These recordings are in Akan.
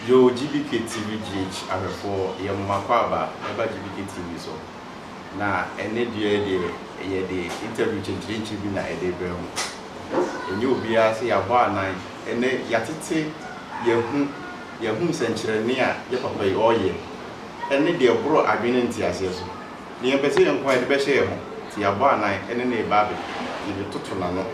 Yo GBK TV GH ahwɛfoɔ yɛ mo m'akwaaba ɛba GBK TV so na ɛnɛ dua yi deɛ yɛ de interview kyenkyerenkye bi na ɛde brɛ mo ɛnyɛ obiara sɛ yabɔ anan ɛnɛ yatete yɛn ho yɛn ho nsɛnkyerɛnne a yɛ papa yi ɔyɛ ne deɛ ɛboro adwene ne nteaseɛ so. Deɛ yɛpɛ sɛ yɛnko a yɛde bɛhyɛ yɛn ho, nti yɛabɔ anan ne no reba abɛ, yɛbɛtoto n'ano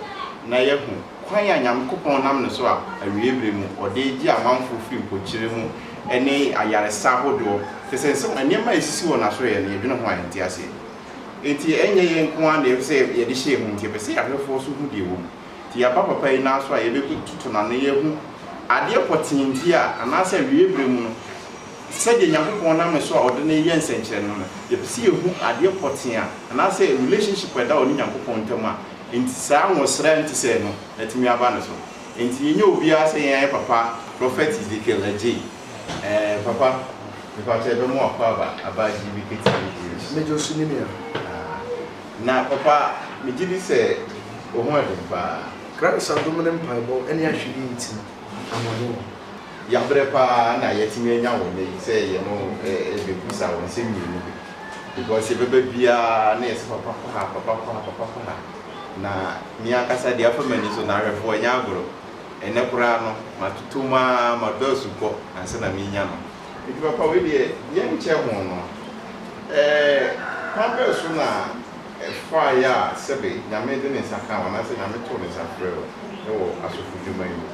na yɛahu kwan a Nyankopɔn nam ne so a awiei berɛ mu ɔde regye amanfoɔ firi mpokyerɛ mu ne ayaresa ahodoɔ te sɛ nsɛm nneɛma a ɛsisi wɔ n'asoɛeɛ no, yɛdwene ho a yɛnte aseɛ. Nti ɛnyɛ yɛn nko ara na yɛpɛ sɛ yɛde hyɛ yɛn ho, nti yɛpɛ sɛ ahwɛfoɔ nso hu deɛ ɛwɔ mu. Nti yɛaba papa yi nan so a yɛbɛtoto n'ano, yɛahu adeɛ pɔtee nti a anaasɛ awiei berɛ mu no, Sɛdeɛ Nyankopɔn nam ne so a ɔde no reyɛ nsɛnkyerɛnne no no, yɛpɛ sɛ yɛhu adeɛ pɔtee a, anaasɛ relationship a ɛda ɔne Nyankopɔn ntam a enti saa nwosra a ɛnte sɛɛ no atumi aba no so. Enti yɛnyɛ obiara sɛ yɛn ayɛ papa Prɔfɛt Ezekiel agye yi. Ɛɛ papa, mepakyɛ bɛ mo akɔ aba aba gye bi ketewa bi gye bi. Mɛgye osu nim ya. Aa na papa me gye di sɛ wo ho ɛden paa. Christ adom ne mpaebɔ ne ahwɛyie nti no, ahoɔden wɔ hɔ. Yɛabrɛ paa na yɛatumi anya wo nnɛ yi sɛ yɛne wo rebɛbisa wo nsɛm mmienu bi because yɛbɛba biara na yɛse papa kɔ ha, papa kɔ ha, papa kɔ ha na me ankasa deɛ afa m'ani so no awerɛfoɔ ɛnyɛ agorɔ. Ɛnnɛ koraa no matoto mu ara madɔ asukɔ ansa na merenya no nti papa wei deɛ yɛnkyɛ ho no. Ɛɛ kwan bɛn so na. Ɛfaeɛ a sɛbe Nyame de ne nsa kaa wo anaasɛ Nyame too ne nsa frɛɛ wo wɔ asɔfodwuma yi mu.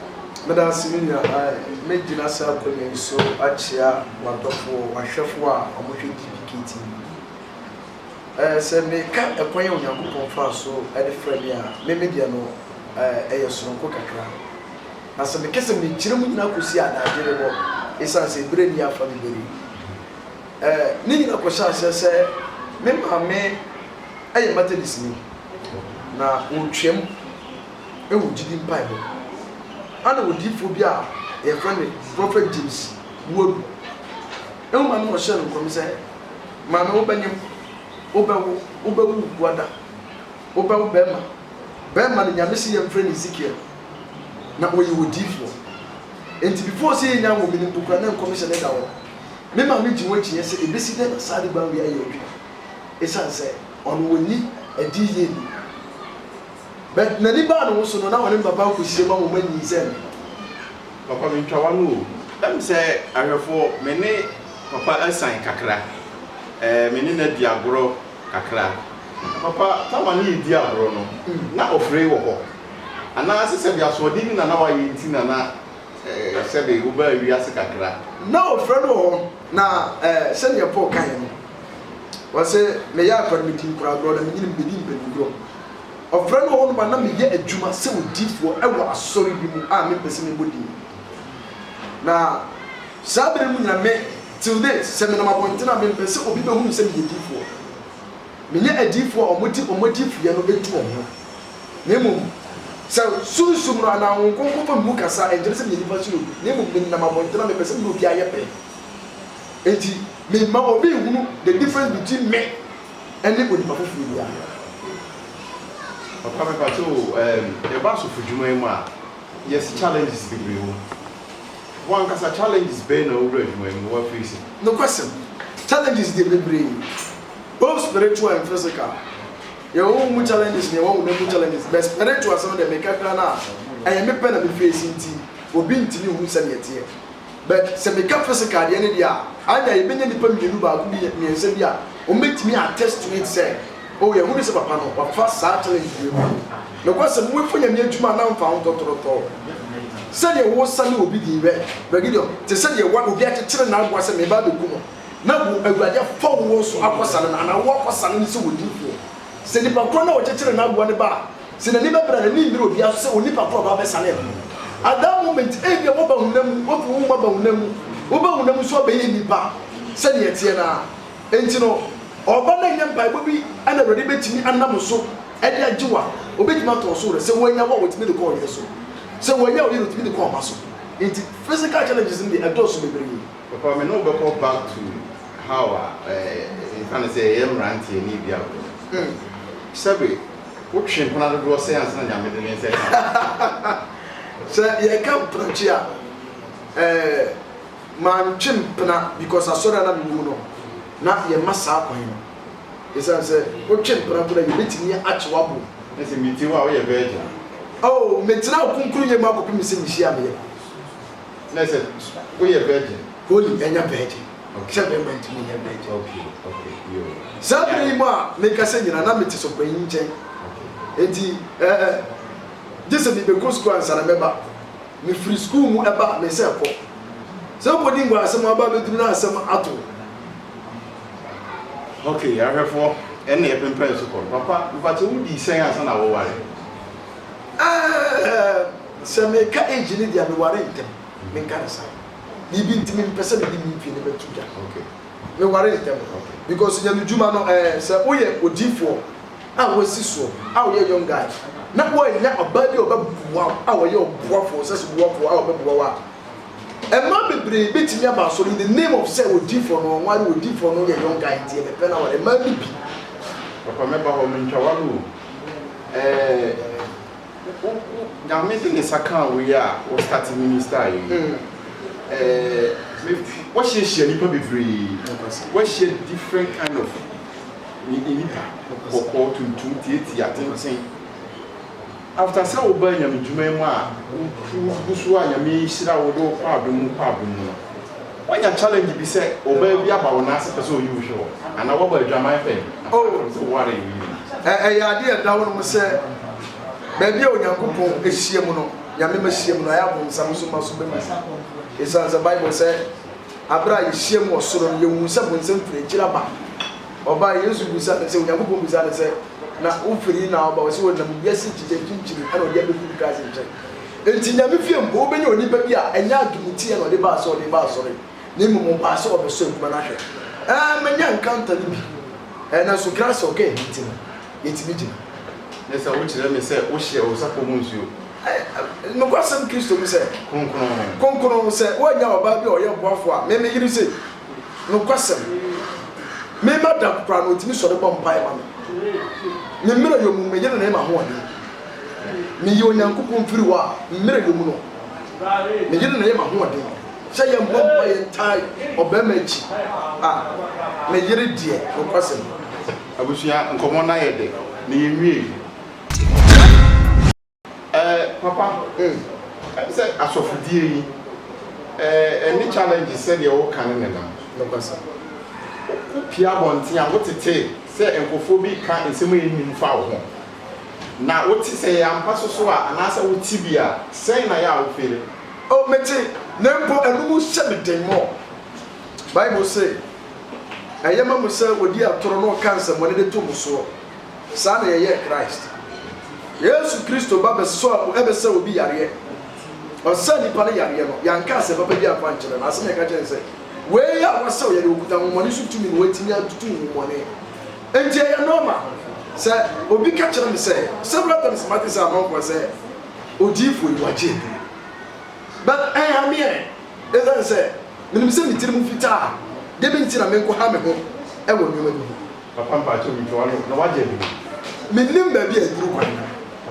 Meda ase me nua Ann. Mɛgyina saa akwanya yi so akyea w'adɔfoɔ, w'ahwɛfoɔ a wɔhwɛ DPK TV. Ɛɛ, sɛ mereka ɛkwan a Onyankopɔn faa so de frɛɛ me a, me me deɛ no, ɛɛ, ɛyɛ sononko kakra. Na sɛ meka sɛ mɛgyina mu nyinaa kɔsi a, adagyerebɔ, ɛsiane sɛ berɛ nni afa me bere yi. Ne nyinaa kɔhyɛɛ aseɛ sɛ me maame yɛ Methodistni, na ɔretwam wɔ gyidi mpaebɔ mu. Ɛnna odiyifoɔ bi a wɔfrɛ no Prophet James Iwuodu hu maame na ɔhyɛɛ no nkɔm sɛ, Maame, wobɛnyem, wobɛwo, wobɛwo wo kunu ada, wobɛwo barima. Barima no, Nyame se yɛmfrɛ no Ezekiel, na ɔyɛ odiyifoɔ. Enti before sɛ yɛnya nwoo me no mpo koraa, na nkɔmhyɛ no da hɔ. Me maame gye ho akyinnye sɛ ebesi dɛn na Saadi Banwi ayɛ odwumayɛ esiane sɛ ɔno wonni adi yie nni ho. But n'ani baa ne ho so no, na ɔne me papa nkɔhyia mu a wɔn anyin sɛ me. Papa mentwa w'ano o. Ɛm sɛ ahwɛfoɔ, me ne papa asian kakra. Ɛɛ me ne no adi agorɔ kakra. Na papa, tam a ne yɛdi agorɔ no, na ɔfree wɔ hɔ. Anaa sɛ sɛdeɛ asoɔden bi na na wayɛ nti na na. eh, sɛbe wobaa wiase kakra. Na ofura no wɔ hɔ, na eh, sɛdeɛ Paul kaeɛ no, ɔse, meyɛ akora no medi nkoragorɔ na menyini no medi mpanyingorɔ. Ɔfrɛ no wɔ hɔ nom a na meyɛ adwuma sɛ odiyifoɔ wɔ asɔre bi mu a mempɛ sɛ mebɔ din. Na saa berɛ no mu nyina me, till date, sɛ menam abɔntene a mempɛ sɛ obi bɛhunu sɛ meyɛ diyifoɔ. Menyɛ adiyifoɔ a wɔde wɔn adiyifuyɛ no atu wɔn ho. na mmom sɛ sunsum no anaa Honhom Kronkron ma me mu kasa a, ɛnkyerɛ sɛ meyɛ nnipa suro bi, na mmom menam abɔnten a mepɛ sɛ me ne obiara yɛ pɛ nti, memma obi nhunu the difference between me ne onipa foforɔ biara. Papa me pakyɛ o ehm yɛba asɔfo dwuma yi mu a yes challenges bebree wɔ mu. Wo ankasa challenges bɛn na wowura dwuma yi mu na wa face? Nokwasɛm, challenges deɛ bebree both spiritual and physical Yɛwɔ hɔ mu challenges na yɛwɔ honam mu challenges but spiritual asɛm no deɛ meka koraa no a ɛyɛ me pɛ na me face nti obi ntumi nhu sɛdeɛ ɛteɛ but sɛ meka physical deɛ no deɛ a annya yɛbɛnya nnipa mmienu baako bi mmiɛnsa bi a wɔbɛtumi attest to it sɛ oh yɛhunu sɛ papa no wafa saa challenges wei mu nokwasɛm wofa nyame adwuma a na mfa ho tɔtorɔtɔɔ sɛdeɛ wosa ne obi din bɛ Bergideon te sɛdeɛ wa obi akyekyere n'aboa sɛ meba abɛku no na wo awurade afa wo wɔn so akɔsane no, anaa wo akɔsane no sɛ odiyifoɔ. Sɛ nipa korɔ no a ɔkyekyeree n'aboa no ba a, sɛ n'ani bɛbrɛ a, n'ani nnwira obiara so sɛ onipa korɔ a ɔba abɛsane ɛho no. At that moment, ebia woaba honam mu, woafi wo honhom aba honam mu, woba honam mu nso abɛyɛ nipa sɛdeɛ ɛteɛ no ara. Enti no, ɔba no a ɛnyɛ mpaebɔ bi na awurade bɛtumi anam so de agye wo a, ɔbɛtumi atɔ wo so werɛ. Sɛ wannya wo a, ɔtumi de kɔ ɔyere so. Sɛ wannya ɔyere a, ɔtumi de kɔ ɔba so. Enti physical challenges no deɛ, ɛdɔɔso bebree. Papa me ne wo bɛkɔ back to how a yɛka no sɛ yɛyɛ mmeranteɛ ne dua agorɔ no. Sɛbe wo twe mpena dodoɔ sɛn ansa na Nyame de ne nsa asi wo so? Sɛ yɛka mpenatwe a, eh, mantwe mpena because asɔre a na mewɔ mu no, na yɛmma saa kwan no. Esiane sɛ wo twe mpena mpo no a, yɛbɛtumi akye w'aboɔ. Na sɛ metie wo a, woyɛ virgin a? Oh, metena wo kronkronyɛ mu akɔpem sɛ mehyia me yere. na sɛ woyɛ virgin. Holy ɛnyɛ virgin sɛ bɛɛma nti mo nyɛ virgin. Okay okay yoo. Saa bere yi mu a me kasa nyina na me te sɔpanyin nkyɛn nti ɛɛ gye sɛ me bɛ kɔ sukuu ansa na mɛ ba. Me firi sukuu mu ɛba a me sɛ kɔ. Sɛ wo kɔ di ngua asɛm aba bɛ duru na asɛm ato wo. Okay ahwɛfoɔ ɛne ɛpenpɛn so kɔ no. Papa mfakyɛ wo dii sɛn ansa na wo ware? Ɛɛ. Sɛ meka age no deɛ a mewaree ntɛm, menka no saa. Biribi nti mempɛ sɛ mede me pie no bɛto dwa. Mewaree ntɛm because Nyame dwuma no ɛɛ sɛ woyɛ odiyifoɔ a woasi soɔ a woyɛ young guy na woannya ɔbaa bi a ɔbɛboa wo a ɔyɛ ɔboafoɔ sɛ sɛ boafoɔ a ɔbɛboa wo a Mmaa bebree bɛtumi aba asɔre in the name of sɛ odiyifoɔ no ɔnware odiyifoɔ no yɛ young guy nti ɛbɛpɛ no aware mmaa no bi. Papa mɛba hɔ mentwa ware o ɛɛ. Wo wo Nyame de ne nsa kaa wo yi a wo start minister yi ɛɛ wahyia hyia nipa bebree wahyia different kind of nipa bɔkɔɔ tuntum tiatia tenten after sɛ wo baa Nyame dwuma yi mu a wo wo gu so a Nyame hyira wo de wo kɔ adom mu kɔ adom mu no. Wanya challenge bi sɛ obaa bi aba wo nan ase pɛ sɛ oyi wo hwe hɔ anaa wabɔ adwaman pɛn anaa Oh. wapɛ sɛ oware wo yere bi. Ɛ Ɛyɛ ade a ɛda hɔnom sɛ baabi a Onyankopɔn hyiam no, Nyame mma hyiam no, ɛyɛ a bonsam nso mma so bɛma mu. Esiane sɛ Bible sɛ bere a yehyiam wɔ soro no yehu sɛ bonsam firi akyiri aba. Ɔbae, Yesu bisaa no sɛ, Onyankopɔn bisaa no sɛ, Na wofiri he na aba? Ɔse, Wɔnam wiase nkyekyɛ mfimfini na ɔde abefi wiase nkyɛn. Enti Nyame fie mpo wobɛnya onipa bi a ɛnyɛ ademuteɛ na ɔde baa sɛ ɔde reba asɔre na mmom ɔbaa sɛ ɔrebɛsɔ adwuma no ahwɛ. Ɛɛ, manya nkranta no bi. Ɛɛ, nanso Grace a ɔka eyi nti no, yɛtumi gyina. Ne sɛ wokyerɛ me sɛ wohyɛ wo sapɔ mu nsuo. Ɛɛ, nokwasɛm Kristo mu sɛ. Kronkron. Kronkron, sɛ woannya ɔbaa bi a ɔyɛ ɔboafoɔ a, me, me yere sei, nokwasɛm, me madam koraa no, ɔtumi sɔre bɔ mpaeɛ ma me. Me mmerɛ yɔ mu, me yere na ɛyɛ m'ahoɔden. Meyɛ Onyankopɔn mfiri hɔ a mmerɛ yɛ mu no, me yere na ɛyɛ m'ahoɔden, sɛ yɛmmɔ mpa yɛntae ɔbarima akyi a, me yere deɛ nokwasɛm. Abusua nkɔmmɔ no ayɛ dɛ na yɛnwiei. Ɛɛ papa ɛne sɛ asɔfodie yi ɛne challenges sɛdeɛ woka no nenam. Wo pue abɔnten a wotetee sɛ nkurɔfoɔ bi reka nsɛm a ɛnnim fa wo ho. Na wo te, sɛ ɛyɛ ampa so so a, anaasɛ wo te bi a, sɛn na yɛ a wo fere? O, me te, na mpo ɛno mu hyɛ me den mɔ. Bible se, Ɛyɛ ma mo sɛ wɔdi atoro na wɔka nsɛmmɔne de to mo soɔ. Saa na yɛyɛɛ Christ. Yesu Kristo ba bɛsɔɔ mu ɛbɛsa obi yareɛ. Ɔsaa nipa no yareɛ no, yɛanka asɛm papa bi amfa ankyerɛ no. Asɛm a yɛka kyerɛ no sɛ, Wei a woasa wo yareɛ, wokuta ahonhommɔne so tumi ma woatumi atutu honhommɔne. Enti ɛyɛ nɔɔma sɛ obi ka kyerɛ me sɛ, several times mate sɛ amanfoɔ sɛ, Odiyifoɔ yi wagye aduru. But ɛnha me ɛ, ɛsiane sɛ menim sɛ me tirim fitaa, deɛn nti na menkɔha me ho wɔ nneɛma bi ho? Papa mpakyɛw ntwa w'ano, na wagye aduru? Mennim baabi a aduru kwan no.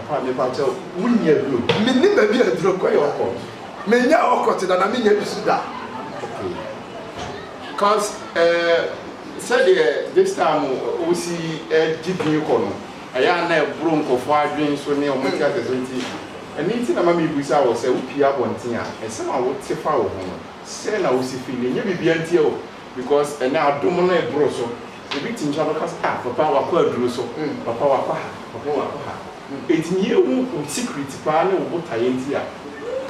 Papa mepakyɛw, wonni aduro? Mennim baabi a aduro kwan no. Woyɛ ɔkɔt? Mennyɛ ɔkɔt da, na mennyɛ bi nso da. Okay. Cause ɛɛ sɛdeɛ this time wosi gye din kɔ no ɛyɛ a na ɛboro nkorɔfoɔ adwene so ne wɔn ti asɛ so nti ɛno nti na ma mebisa wo sɛ wopie abɔnten a nsɛm a wote fa wo ho no sɛn na wosi feel ɛnyɛ biribiara ntia o because ɛnɛ adom no ɛboro so obi te nkyɛn a ɔbɛka sɛ ah papa wakɔ aduro so papa wakɔ ha papa wakɔ ha. Enti yei wo secret paa ne wo botaeɛ nti a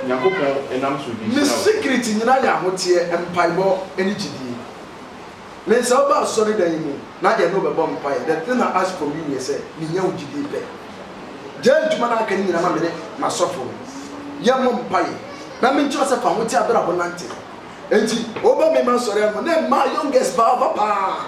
Nyankopɔn nam so de hyira wo. Me secret nyinaa yɛ ahoteɛ, mpaebɔ ne gyidie. Len sɛ woba asɔredan yi mu na yɛne wo bɛbɔ mpaeɛ the thing I ask from you yɛ sɛ menya wo gyidie pɛ. Gyae adwuma no a aka no nyinaa ma mene m'asɔfo no yɛmmɔ mpaeɛ na menkyerɛ wo sɛ fa ahoteɛ abrabɔ nante. Enti woba me ma asɔre anoma na ɛmaa youngest paa ɔba paa.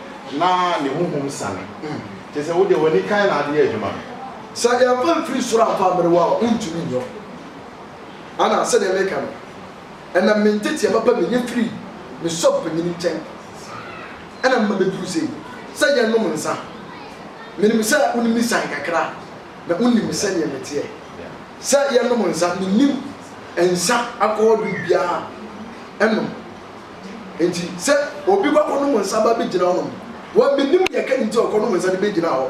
Na ne honhom sane. Kyerɛ sɛ, wo deɛ w'ani kan na ade yɛ adwuma no. Sɛ yɛmfa mfiri soro amfa ammere wo a, wontumi nyɛ wo. Ana sɛdeɛ meka no, ɛnam me nteteɛ papa mu, ɛnya firii me sɔfo panin nkyɛn na mema mɛduru sɛ yi, sɛ yɛnnom nsã. Menim sɛ wonim me siane kakra, na wonim me sɛdeɛ meteɛ. Sɛ yɛnnom nsã, mennim nsã akɔnnɔduru biara nnom, Enti sɛ obi kɔ akɔnom nsa ba bɛgyina hɔnom, wɔ menim deɛ ɛka ne nti ɔkɔnom nsa de bɛgyina hɔ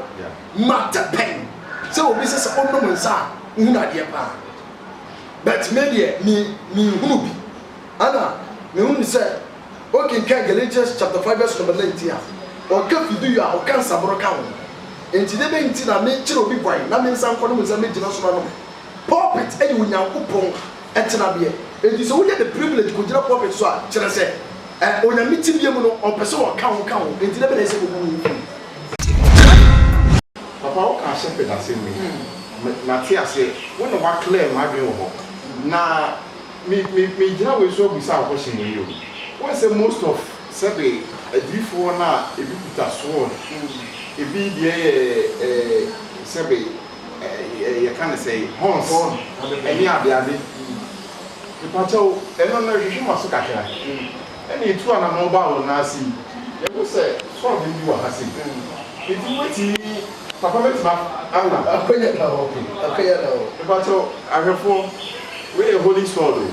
ma tɛ pɛn sɛ obi sɛ sɛ ɔnom nsa a wohunu adeɛ paa but me deɛ me menhunu bi ana mehunu sɛ wokenkan Galatians chapter 5 verse number 19 a ɔka fiduyo a ɔka nsaboro ka ho enti dɛ bɛn nti na mekyerɛ obi kwan na me nsa nkɔnom nsa mɛgyina so no anom pulpit ɛyɛ onyankopɔn tsenabeɛ. Enti sɛ wonya the privilege kogyina pulpit so a, kyerɛ sɛ Onyame tsebea mu no, ɔpɛ sɛ ɔka wo ka ho. Enti dɛn na ɛyɛ sɛ obu wo fun? Papa wo kaa Shepherd asem me me ma te aseɛ wo na wa clear ma adwen wɔ hɔ na me me me gyina wei so abusa wo question wei o wo nsɛ most of sɛbe adiyifoɔ no a ebi kuta sword ebi deɛ yɛ eh sɛbe eh yɛka ne sɛn horns ɛne adeade mepakyɛw ɛno no hwehwɛ ma so kakra ɛna etu anamɔn ba wo nan ase yi yɛhu sɛ sɔɔden bi wɔ ha sei enti wobɛtumi papa mɛtumi ana akɔyɛ na ok mepakyɛw ahwɛfoɔ wei yɛ holy sword o.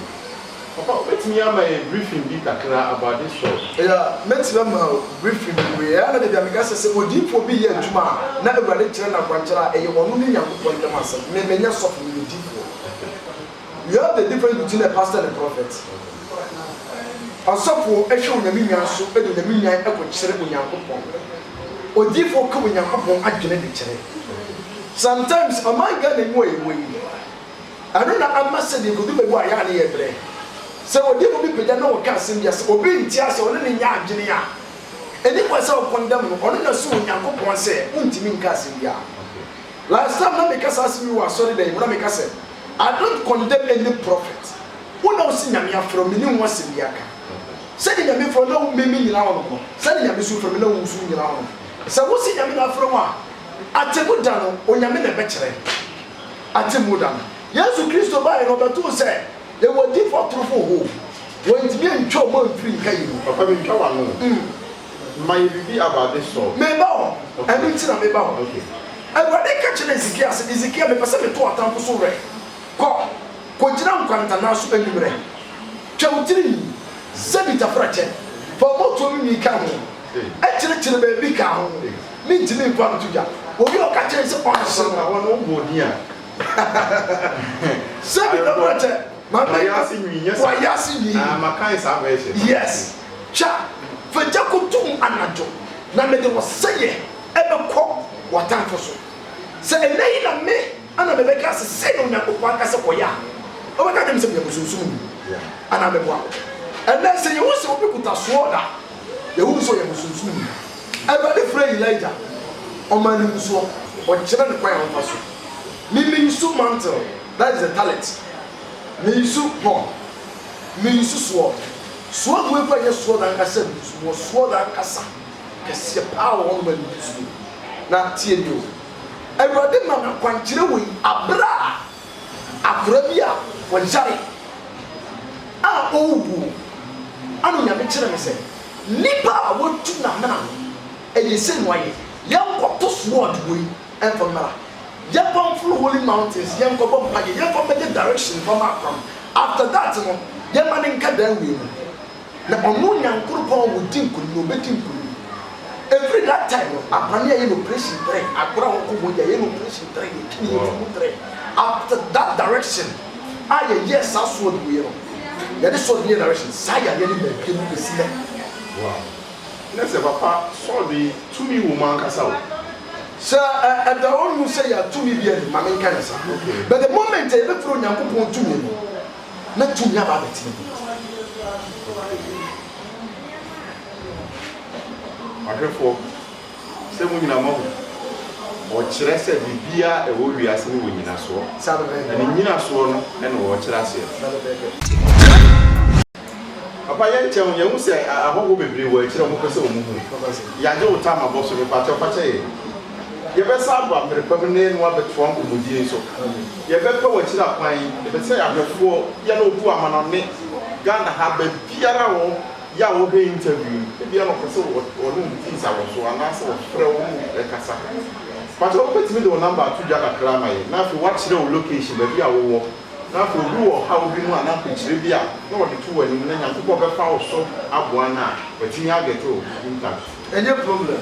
Papa wobɛtumi ama yɛn briefing bi kakra about this show? Yeah, mɛtumi ama wo briefing bebree. Ɛyɛ a na dabi a meka sɛ, sɛ odiyifoɔ bi reyɛ adwuma a, na Awurade kyerɛ no akwankyerɛ a, ɛyɛ ɔno ne Nyankopɔn ntam asɛm. Me, menyɛ sɔfo, meyɛ odiyifoɔ. You have the difference between a pastor and a prophet. Ɔsɔfoɔ hwɛ Onyame nwan so de Onyame nwan kɔkyerɛ Onyankopɔn. Odiyifoɔ ka Onyankopɔn adwene de kyerɛ. Sometimes, ɔman Ghana yi mu a yɛwɔ yi, Ɛno na ama sɛdeɛ ɛkɔdu baabi a ɛyɛ a ne yɛ brɛ. Sɛ ɔdifo bi pagya na ɔka asɛm bi a sɛ obi nte aseɛ a ɔne no nyɛ adwene a, ɛnni kwan sɛ ɔkɔndɛm no, ɔno na sum Onyankopɔn sɛ wontumi nka asɛm biara. Last time na meka saa asɛm yi wɔ asɔredan yi mu na meka sɛ, I don't condemn any prophet, wo na wose Nyame afrɛ wo, menni ho asɛm biara ka. Sɛdeɛ Nyame frɛ wo na me mennyina wo no ho, sɛdeɛ Nyame nso frɛ me na wo nso wonnyina wo no ho. Sɛ wose Nyame na afrɛ wo a, atemmu da no Onyame na ɛbɛkyerɛ. atemmu da no. Yesu Kristo bae no, ɔbɛtoo sɛ yɛwɔ adiyifo atorofo hoo. Wɔantumi antwa wɔn amfiri nka yi mu. Papa mintwa w'ano o. Ma yɛ biribi about this salt. Meba hɔ. Ɛno nti na meba hɔ. Awurade ka kyerɛɛ Hesekia sɛ, Hesekia, mepɛ sɛ meto w'atamfo so werɛ. Kɔ, kogyina nkwantanan so anwummerɛ. Twa wo tirinwi, Zebita frɛkyɛ, fa wo mmɔtoam nwi ka ho. Akyirikyiri baabi kaa ho mentumi nkɔ nto dwa. Obi a ɔka kyerɛɛ sɛ ɔnhye no. Awɔ no wobɔɔ din a. Sɛ me dɔbrɔ kyɛ ma me. Wayase nwi nyɛ saa. Wayase nwi. Ah ma kan saa version no. Yes twa fagya koto mu anadwo na mede wo sɛyɛ ɛbɛkɔ watamfo so sɛ ɛnɛ yi na me ɛna me bɛka sɛ sɛyɛ Onyankopɔn aka sɛ kɔyɛ a wobɛka kyerɛ me sɛ meyɛ bosonsom ni anaa mɛboa wo ɛnɛ sɛ yɛhu sɛ obi kuta soɔd a Yɛhunu sɛ ɔyɛ bosonsomni. Awurade frɛɛ Elijah, ɔmaa no ngusoɔ, ɔkyerɛɛ no kwan a ɔmfa so. Me me nsu mantle, that is the tallit, me nsu horn, me nsu sword. Sword wei koraa nyɛ sword ankasa a ɛguso, mewɔ sword ankasa, kɛseɛ paa wɔ hɔnom a ɛguso. Na tie nie o, Awurade ma no akwankyerɛ wei, aberɛ a. Akora bi a ɔyare a ɔrewuo ɛna Onyame kyerɛ me sɛ nipa a watu namena no ɛyɛ sei na wayɛ yɛnkɔto sword wei ɛmfa mmra yɛmfa mforo holy mountains yɛnkɔbɔ mpaeɛ yɛmfa mmɛyɛ direction mfa ma akora no after that no yɛmma no nka dan wei mu Na ɔno Nyankoropɔn wo di nkunim na ɔbɛ di nkunim ɛfiri that time no abane yɛayɛ no operation trɛ agorɔ a wɔn kɔ mu yɛayɛ no operation trɛ yɛ kini yɛ funu trɛ after that direction a yɛyɛɛ saa soɔ de wei no yɛde soɔ de yɛ direction saa yareɛ no maa bie mu bɛsi nɛ. Wow na sɛ papa soɔ de tumi wɔ mu ankasa o. Sɛ ɛ ɛda ɔnu sɛ yɛ tumi bi ɛne ma me nka yɛ saa okay but the moment a yɛbɛ firi Onyankopɔn tumi no. na tumi aba abɛtena mu. Ahwɛfoɔ, sɛ mo nyina moahu, ɔkyerɛ sɛ biribiara a ɛwɔ wiase no wɔ nyinasoɔ, na ne nyinasoɔ no na ɔrekyerɛ aseɛ no. Papa yɛn kyɛw yɛn hu sɛ ahɔhoɔ bebree wɔ akyire a wɔpɛ sɛ wɔn hu yɛn agye wo tam abɔ so mepakyɛw fakyɛ yɛn. Yɛbɛsan aba mmerɛ pa mu na yɛne wo abɛtoa nkɔmmɔdie nso. Yɛbɛpɛ w'akyiri akwan. Yɛpɛ sɛ ahwɛfoɔ, yɛn a wɔtu amanɔne Ghana ha, baabiara a wɔ yɛ a wɔhwɛ interview yi, ebia na wɔpɛ sɛ wɔne wo di nsawɔsoɔ anaasɛ wɔfrɛ wo ne wo kasa. Mpakyɛ wobɛtumi de wo number ato dwa kakra ama yɛn na afei woakyerɛ wo location, baabi a wowɔ, na afei obi wɔ ɔhaw bi mu anaa akwankyire bi a na ɔde to w'anim na Nyankopɔn bɛfa wo so aboa no a, watumi agɛte wo in touch. Ɛnyɛ problem.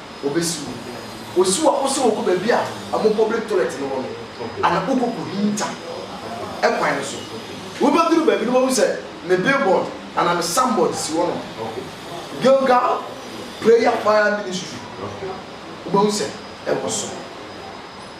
Wɔbɛsi wo. Wɔsi wo a, wo sɛ wokɔ baabi a wɔn public toilet no wɔ no, anaa wokɔkɔhinta kwan no so. Wobɛduru baabi no wobɛhu sɛ me billboard anaa me signboard si hɔnom, Gilgal Prayer Fire Ministry. Wobɛhu sɛ ɛwɔ so.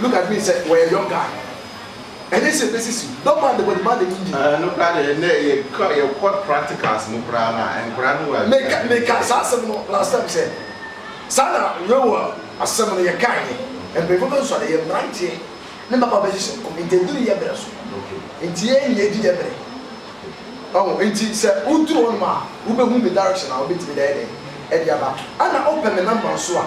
Look at me sɛ wɔyɛ young guy ɛnyɛ sɛ ɛbɛsisi wo dɔm a the body man ani nnye. Nokora deɛ ɛnɛ yɛkɔ yɛkɔ practicals mu koraa no a nkora no wɔ adwuma Meka yie. meka saa asɛm no last time sɛ saa na Rewa asɛm no yɛkaeɛ mpanyinfoɔ bɛsosɔ ɛyɛ mmeranteɛ ne mmabaa bɛhyehyɛ nkɔm nti ɛduru yɛ berɛ so Okay. nti yɛn nyinaa ɛdi yɛ berɛ ɔho nti sɛ woduru hɔnom a wobɛhu me direction a wobɛtumi de ayɛ dɛn ɛde aba ɛna wopɛ me number nso a.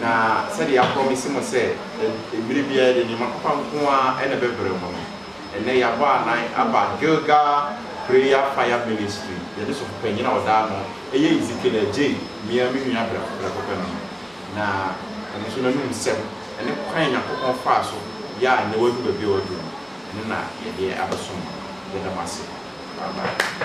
Na sɛdeɛ yɛaprɔmese mo sɛ mmerɛ biara yɛde nneɛma papa nko ara na ɛbɛbrɛ mo no, ɛnnɛ yɛabɔ anan aba Gilgal Prayer Fire Ministry, yɛne Sɔfopanyin a ɔda ano yɛ Ezekiel Adjei, me ara me nua prɛko pɛ no, na ɛno nso n'anom nsɛm ne kwan a Nyankopɔn faa so yɛ a nnɛ wadu baabi a wadu no, ɛno na yɛde abɛsom mo. Yɛda mo ase. Amen.